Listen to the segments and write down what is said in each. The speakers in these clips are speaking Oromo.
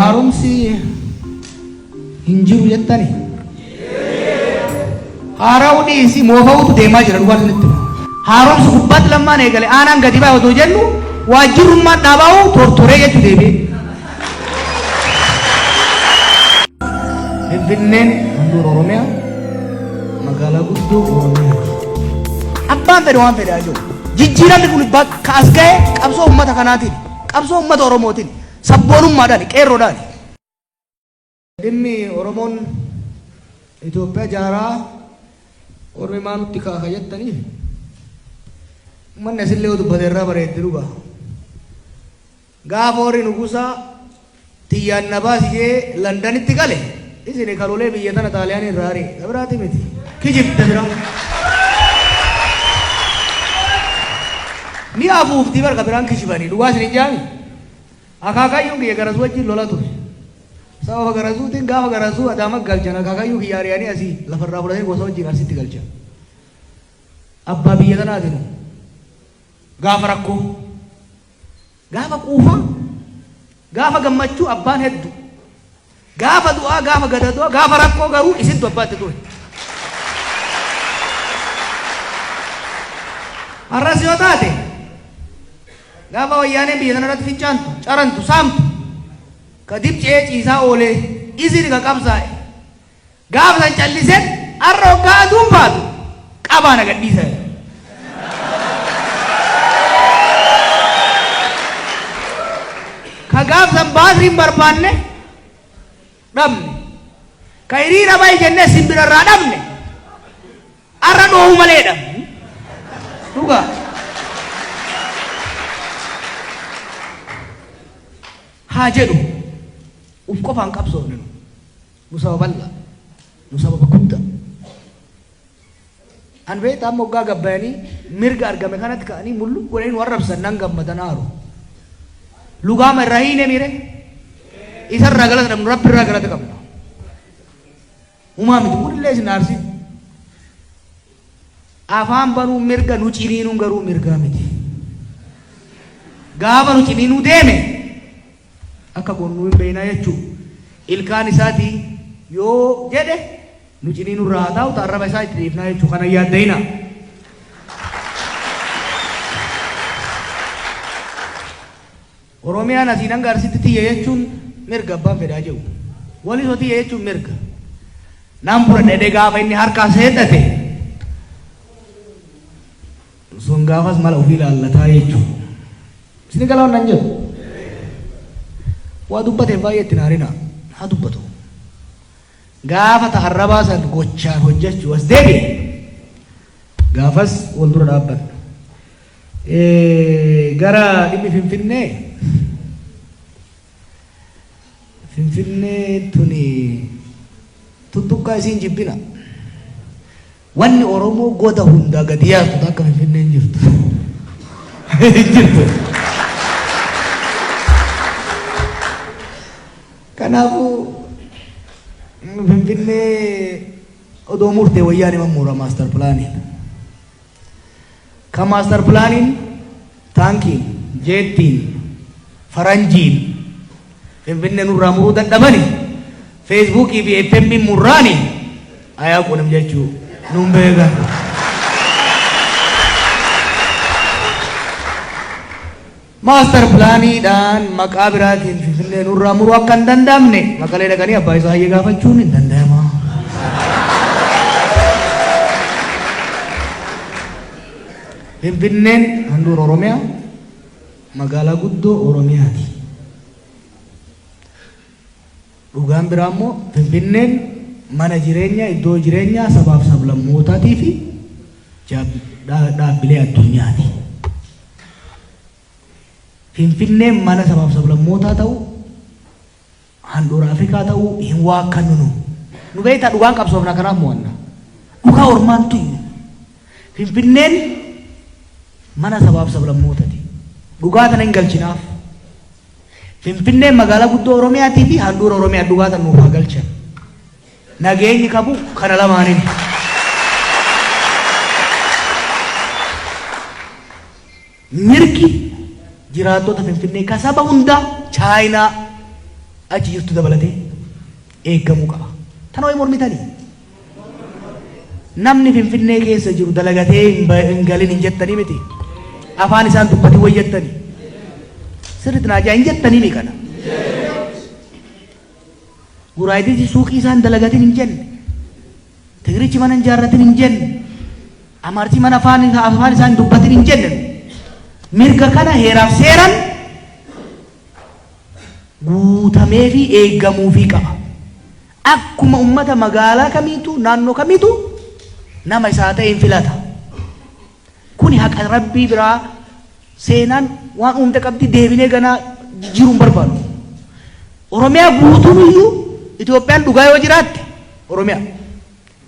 Haaromsi hin jiru jettani? Haara'uu dhiisi moofa'uutu deemaa jira dhugaan isinitti hima. Haaromsi gubbaatti lammaan eegale aanaan gadi ba'e otoo jennu waajjirrummaan dhaabaa'u tortoree jechuu deebi'ee. Finfinneen handhuura Oromiyaa magaalaa guddoo Oromiyaa. Abbaan fedhe waan fedhe haa jiru. Jijjiiramni kun bakka as ga'e qabsoo uummata kanaatiin. Qabsoo ummata Oromootiin, sabboonummaadhaani, qeerroodhaani. Dhimmi Oromoon Itoophiyaa jaaraa ormi maa nutti kaaka jettanii? Ummanni asillee yoo dubbate irraa bareeddi dhugaa. Gaafa warri nugusaa tiyyaan na baasi jee Landanitti gale isini ka lolee biyya tana Xaaliyaanii irraa ari'e ka biraati miti kijibda bira ni afuufti bar ka biraan kijibanii dhugaa isin hin jaami akaakayyuun kiyya garas wajjin lola ture sababa garasuutiin gaafa garasuu adaama galchan akaakayyuu kiyya ari'anii asii lafarraa fudhatee gosa wajjin arsitti galchan abbaa biyya tanaati nu gaafa rakkoo Gaafa quufaa, gaafa gammachuu abbaan heddu. Gaafa du'aa, gaafa gadadoo, gaafa rakkoo garuu isintu abbaa itti ture. Har'as yoo taate, gaafa wayyaaneen biyya tana irratti fincaantu, carantu, saamtu, ka dib ce'ee ciisaa oolee, isin ka qabsaa'e, Gaafa san calliseen arra hoggaa aduun baatu qabaa na gadhiisaa jedhe. Ka gaaf san baasiin barbaanne dhabne. Ka hiriira bahi jennee isin bira irraa dhabne arra dhoohuu malee dhabne. Dhugaa. Haa jedhu uf qofaan qabsoofne nu. Nu saba bal'aa. Nu sababa guddaa. An beektaa amma oggaa gabbayanii mirga argame kanatti ka'anii mul'u godhanii nu arrabsan nan gammadan aaru. Lugaama irraa hiine miire isa irraa galata dhabnu rabbi irraa galata qabna. Humaa miti kunillee isin aarsi. Afaan banuu mirga nu ciniinuun garuu mirgaa miti. Gaafa nu ciniinuu deeme akka goonu nu hin beekna jechuu ilkaan isaati yoo jedhe nu cinii nurraa haa taa'u ta arraba isaa itti dhiifnaa jechuu kana hin yaadda'ina. Oromiyaan asiin hanga arsitti tiyya jechuun mirga abbaan fedhaa jiru. Walisoo tiyya jechuun mirga. Naan bura dhedhee gaafa inni harkaa seeddate Sun gaafas mala ofii laallataa jechuun. Isin gala waan nan jedhu. Waa dubbateef baay'ee itti naarina. Haa dubbatu. Gaafa ta arrabaa san gochaan hojjechuu as deebi'e. Gaafas wal dura dhaabbanna. Gara dhimmi Finfinnee. Finfinnee tuni tuttuqqaa isiin jibbina. Wanni Oromoo goda hundaa gadi yaaftu ta akka Finfinnee hin jirtu. Hin jirtu. Kanaafuu Finfinnee odoo murtee wayyaanee mammuura maastar pilaaniin. Kan Maastar Pilaaniin Taankiin, Jeettiin, Faranjiin Finfinnee nurraa muruu dadhabani Feesbuukii fi FM murraani ayaa qunim jechuu nun beekan. Maastar pilaaniidhaan maqaa biraatiin Finfinnee nurraa muruu akka hin danda'amne Maqalee dhaqanii abbaa isaa hayyee gaafachuun hin danda'ama. Finfinneen handhuura Oromiyaa magaalaa guddoo Oromiyaati. Dhugaan biraa immoo Finfinneen mana jireenyaa, iddoo jireenyaa sabaaf sablammootaatii fi dhaabbilee addunyaati. Finfinneen mana sabaaf sablammootaa ta'uu, handhuura Afrikaa ta'uu hin waakkannu nu. Nu beektaa dhugaan qabsoofna kanaaf mo'anna. Dhugaa ormaan tuynu. Finfinneen mana sabaaf sablammootati. Dhugaa tana hin galchinaaf. Finfinneen magaalaa guddoo Oromiyaatii fi handhuura Oromiyaa dhugaa tan nuuf haa galchan. Nageenyi qabu kana lamaanini. Mirgi jiraattota Finfinnee ka saba hundaa Chaayinaa achi jirtu dabalatee eeggamuu qaba. Tana way mormitanii? Namni finfinnee keessa jiru dalagatee hin ba hin galin hin jettanii miti? Afaan isaan dubbatin way jettani? Sirritti naa ja'a hin jettanii mi kana? Guraaydichi suuqii isaan dalagatin hin jenne. Tigirichi mana hin jaarratin hin jenne. Amaarchi mana afaan afaan isaan dubbatin hin jenne. Mirga kana heeraaf seeran guutamee fi eegamuufii qaba. Akkuma ummata magaalaa kamiituu, naannoo kamiituu nama isaa ta'een filata. Kuni haqa Rabbii biraa seenaan waan uumte qabdi deebinee ganaa jijjiiruu hin barbaannu. Oromiyaa guutuun iyyuu Itoophiyaan dhugaa yoo jiraatte Oromiyaa.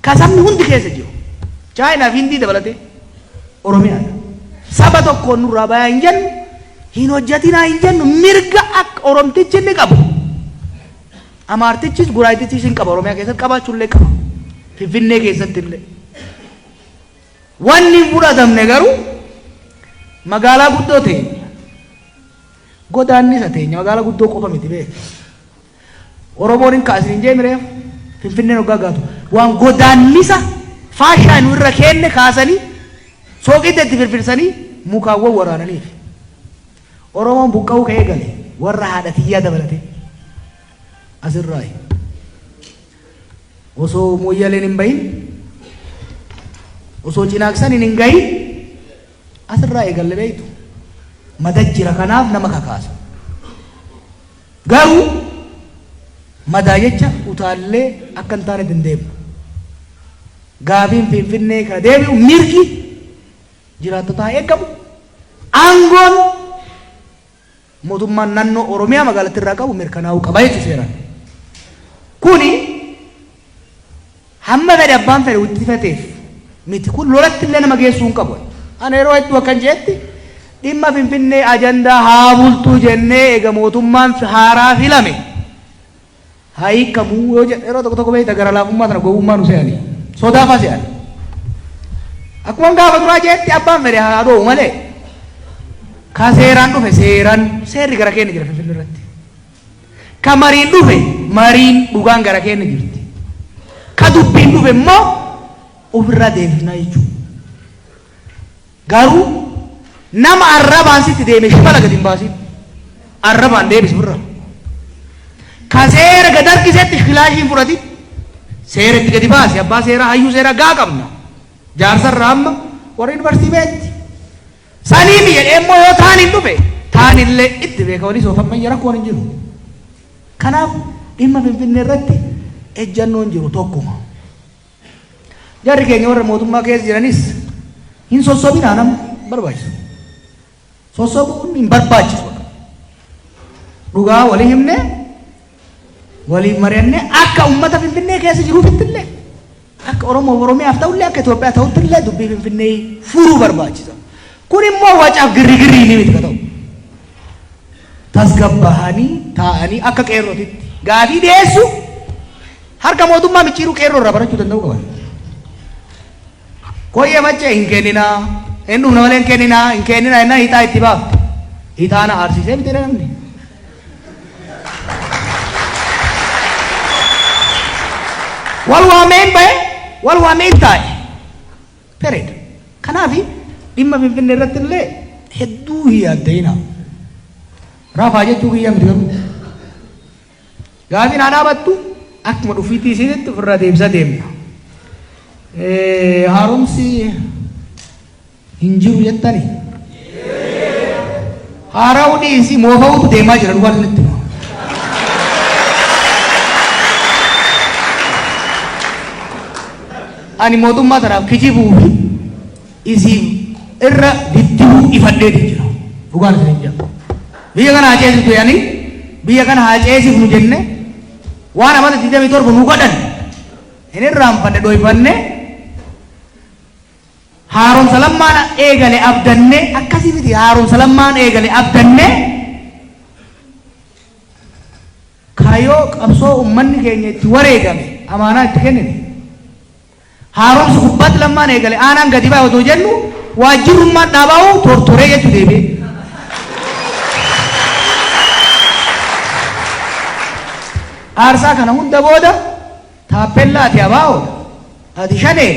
Ka sabni hundi keessa jiru, Chaayinaa fi Hindii dabalatee, Oromiyaa dha. Saba tokkoon nurraa bayaa hin jennu, hin hojjatinaa hin jennu, mirga akka Oromtichi inni qabu, Amaartichis, Guraayitichis hin qaba Oromiyaa keessatti, qabaachuu illee qaba. Finfinnee keessatti illee. Wanni hin fudhatamne garuu, magaalaa guddoo teenya, godaannisa teenya, magaalaa guddoo qofa miti beeki. Oromoon hin ka'a isiniin je'e mireef Finfinneen hoggaa gaatu waan godaannisa faashaa nu irra keenne kaasanii sooqidda itti firfirsanii mukaan wawwaraananiif. Oromoon buqqa'uu ka eegale warra haadha tiyyaa dabalatee. As irraayi. Osoo Mooyyaleen hin bahin, osoo Cinaaksaniin hin gahin as irraa eegalle beektu. Mata jira kanaaf nama kakaasa. Garuu madaa jecha utaallee akka hin taanetti hin deemnu. Gaafiin Finfinnee ka deebi'u mirgi jiraattotaa haa eegamu, aangoon mootummaan nannoo Oromiyaa magaalattii irraa qabu mirkanaa'uu qaba jechuudha seeraan. Kuni. Hamma fedhe abbaan fedhe wixxifateef miti. Kun lolatti illee nama geessuu hin qabu. Ana yeroo hedduu akkan je'etti, dhimma Finfinnee ajandaa haa bultu jennee eega mootummaan haaraa filame haa hiikkamu yoo jedhe yeroo tokko tokko beeyta gara laafummaa tana gowwummaa nu se'ani. Sodaa faa se'ani. Akkuman gaafa duraa je'etti abbaan fedhe haa dhoowu malee ka seeraan dhufe seeran seerri gara keenna jira Finfinnee irratti. Ka mariin dhufe mariin dhugaan gara keenna jirti. Ka dubbiin dhufe immoo uf irraa deebifna jechuu. Garuu nama arrabaan sitti deeme shibala gad hin baasiin. Arrabaan deebis uf irraa. Ka seera gad harkisetti kilaashii hin fudhatin. Seera itti gadi baasi abbaa seeraa hayyuu seeraa gahaa qabna. Jaarsa irraa amma warra yunivarsiitii beetti. Saniifi jedhee immoo yoo taaniin dhufe taanillee itti beeka waliis of ammayya rakkoon hin jiru. Kanaaf dhimma Finfinnee irratti ejjannoon jiru tokkuma. Jarri keenya warra mootummaa keessa jiranis hin sossobinaa nama barbaachisu. Sossobuun hin barbaachisu. Dhugaa walii himnee waliin mari'annee akka uummata Finfinnee keessa jiruufitti illee Akka Oromoof Oromiyaaf ta'ullee akka Itoophiyaa ta'uttillee dubbii Finfinnee furuu barbaachisa. Kun immoo wacaaf girrigirriinii miti ka ta'u. Tasgabbaahanii taa'anii akka qeerrootitti gaafii dhiyeessuu harka mootummaa micciiruu qeerroo irraa barachuu danda'uu qaban. Koyyee maccee hin kenninaa, hin dhumna malee hin kenninaa, hin kenninaa jennaan hixaa itti baafte. Hixaana aarsisee miti namni. Wal waameen ba'e, wal waameen taa'e. Period. Kanaafi dhimma Finfinnee irratti illee hedduu hin yaadda'inaa. Rafaa jechuu kiyya miti garuu. Gaafiin haa dhaabattu akkuma dhufiitii isiinitti ofirraa deebisa deemna. Eh, Haaromsi Hin jiru jettanii? Haara'uu dhiisii moofa'uutu deemaa jira dhugaa isinitti hima. Ani mootummaa tanaaf kijibuu fi isiin irra diddibuu ifadhee jira. Dhugaan isiniin jira. Biyya kana haa ceesiftu jedhanii biyya kana haa ceesifnu jenne waan amata 27 nu godhan hin irraanfanne dhoyfanne Haaromsa Lammaan eegale abdanne akkasii miti haaromsa Lammaan eegale abdanne kaayoo qabsoo ummanni keenya itti wareegame amaanaa itti kennine. Haaromsi gubbaatti Lammaan eegale aanaan gadi bahe otoo jennu waajjirrummaan dhaabaa'uu tortoree jechuu deebi'ee. Aarsaa kana hunda booda Taappellaa Ati Abaa'oo dha, Ati Shanee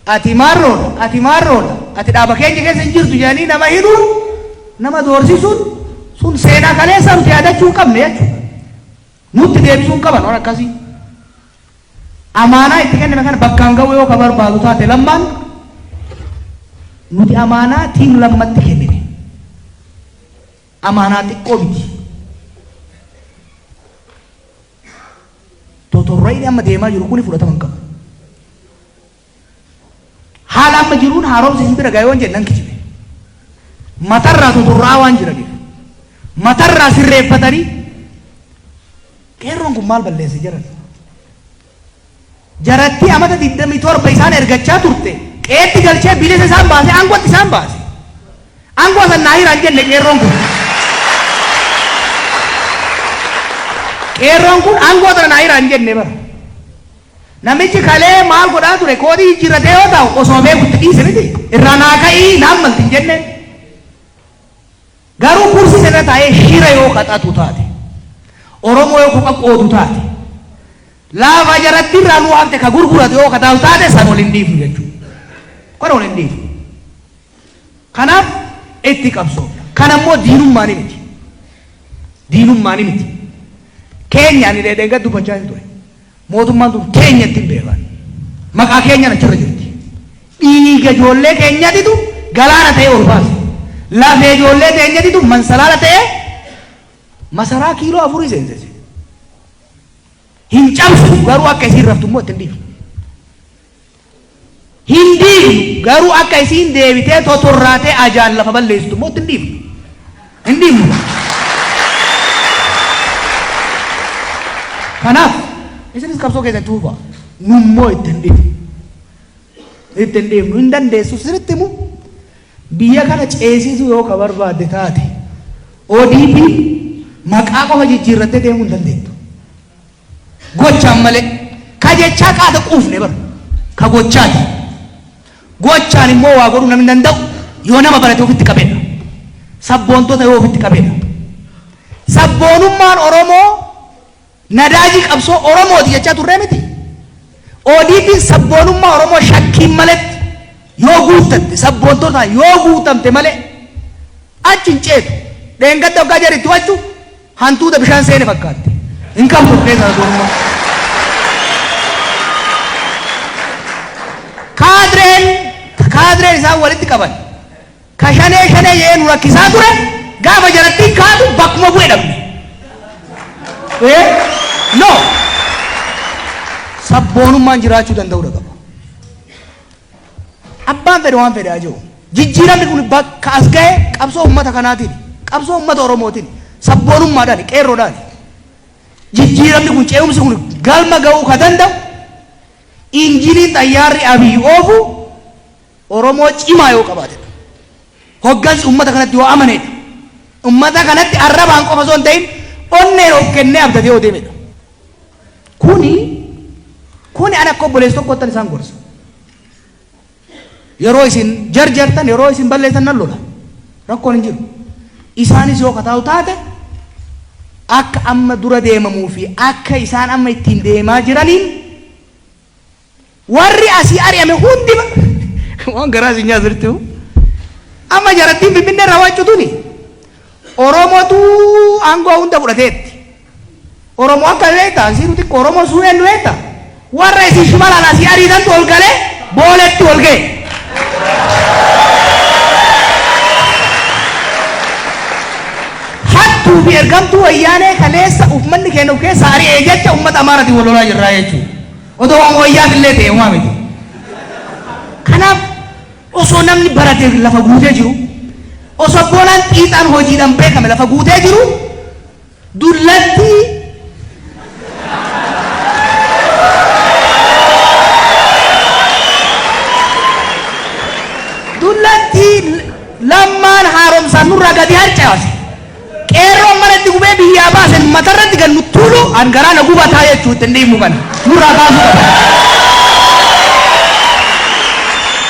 dha, Ati Maarroo dha, Ati Maarroo dha, Ati dhaaba keenya keessa hin jirtu jedhanii nama hidhuun, nama doorsisuun sun seenaa kaleessaa nuti yaadachuu hin qabne jechuudha. Nutti deebisuu hin qaban waan akkasii. Amaanaa itti kenname kana bakkaan ga'uu yoo ka barbaadu taate Lammaan nuti amaanaa tiim Lammatti kennine. Amaanaa xiqqoo miti. Totorrayni amma deemaa jiru kuni fudhatama hin qabu. Haala amma jiruun haaromsi isin bira ga'e waan jedhe nan kijibe. Matarraa totorraa waan jiraniif. Matarraa sirreeffatanii qeerroon kun maal balleesse jedhan. Jarattii amata 27 isaan ergachaa turte qe'eetti galchee bilisa isaan baasee aangootti isaan baase. Aangoo san naa hiraa hin jenne qeerroon kun. Qeerroon kun aangoo tana naa hiraa hin jenne bar. Namichi kalee maal godhaa ture koodii jijjiirratee yoo taa'u osoo beeku itti dhiise miti. Irraa naa ka'ii naan malti hin jenneen. Garuu kursii sanirra taa'ee shira yoo qaxatu taate, Oromoo yoo koqa qoodu taate, Laafaa jarattiin raaluu hafte ka gurguratu yoo ka taa'u taate san ol hin dhiifnu jechuu. Kana ol hin dhiifnu. Kanaaf itti qabsoofna. Kana immoo diinummaani miti. Diinummaani miti. Keenya ani dheedheengadda dubbachaa hin ture. Mootummaan tun teenya ittiin beekan. Maqaa keenyaan achirra jirti. Dhiiga ijoollee keenyatitu galaana ta'ee ol baase. Lafee ijoollee teenyatitu mansalaala ta'ee masaraa kiiloo afurii seensise. Hin cabsinu garuu akka isiin raftu immoo itti hin dhiifnu. Hin diignu garuu akka isiin deebitee totorraatee ajaan lafa balleessitu immoo itti hin dhiifnu. Hin dhiifnu. Kanaaf isinis qabsoo keessan itti fufaa. Nummoo itti hin dhiifnu. Itti hin dhiifnu. Hin dandeessu sirriitti immoo Biyya kana ceesisuu yoo ka barbaadde taate odp maqaa qofa jijjiirrattee deemuu hin dandeettu. Gochaan malee. Ka jechaa qaata quufne bar. Ka gochaati. Gochaan immoo waa godhuu namni danda'u yoo nama barate ofitti qabedha. Sabboontota yoo ofitti qabedha. Sabboonummaan Oromoo. Nadaajii qabsoo Oromooti jechaa turree mitii? ODPn sabboonummaa Oromoo shakkiin maletti yoo guuttatte, sabboontotaan yoo guutamte malee achi hin ceetu. Dheengadda hoggaa jari itti wacu hantuuta bishaan seene fakkaatte. Hin qabdu of keessaa sabboonummaa. Kaadreen kaadreen isaan walitti qaban Ka shanee shanee je'ee nu rakkisaa ture gaafa jarattiin kaatu bakkuma bu'e dhabne. Ee? No! Sabboonummaan jiraachuu danda'uudha qaba. Abbaan fedhe waan fedhe haa je'u. Jijjiiramni kun bakka as gahe qabsoo uummata kanaatiin, qabsoo uummata Oromootiin, sabboonummaadhaan, qeerroodhaan. Jijjiiramni kun ce'umsi kun galma ga'uu ka danda'u injiniin xayyaarri Abiy oofu Oromoo cimaa yoo qabaatedha. Hoggansi ummata kanatti yoo amanedha. Ummata kanatti arrabaan qofa osoo hin ta'in onneen of kennee abdatee yoo deemedha. Kuni kuni an akka obboleessa tokkoottan isaan gorsa. Yeroo isin jarjartan yeroo isin balleessan nan lola. Rakkoon hin jiru. Isaanis yoo kataa'u taate akka amma dura deemamuu fi akka isaan amma ittiin deemaa jiraniin Warri asii ari'ame hundi ba waan garaa isin nyaatu sirriitti hoo. Amma jarattiin Finfinnee irraa waaccu tuni Oromootu aangoo hunda fudhateetti. Oromoo akka beektaan siiruu xiqqoo Oromoo suu eenyu beektaa? Warra isin shimalaan asii ariitantu ol galee booletti wal ga'e. Hattuu fi ergamtuu wayyaanee kaleessa uummanni keenya of keessaa ari'ee jecha uummata Amaaraatiin wal lolaa jirraa jechuudha. Odoo waan wayyaaf illee ta'e homaa miti. Kanaaf osoo namni barate lafa guutee jiru, osoo abboolaan xiixaan hojiidhaan beekame lafa guutee jiru, dullatti dullatti lammaan haaromsaan nurraa gadi harcaase. Qeerroon mana itti gubee biyyaa baase matarratti gad nu tuulu an garaa na gubataa jechuu ittin dhiifnu kana nurraa kaasuu qaban.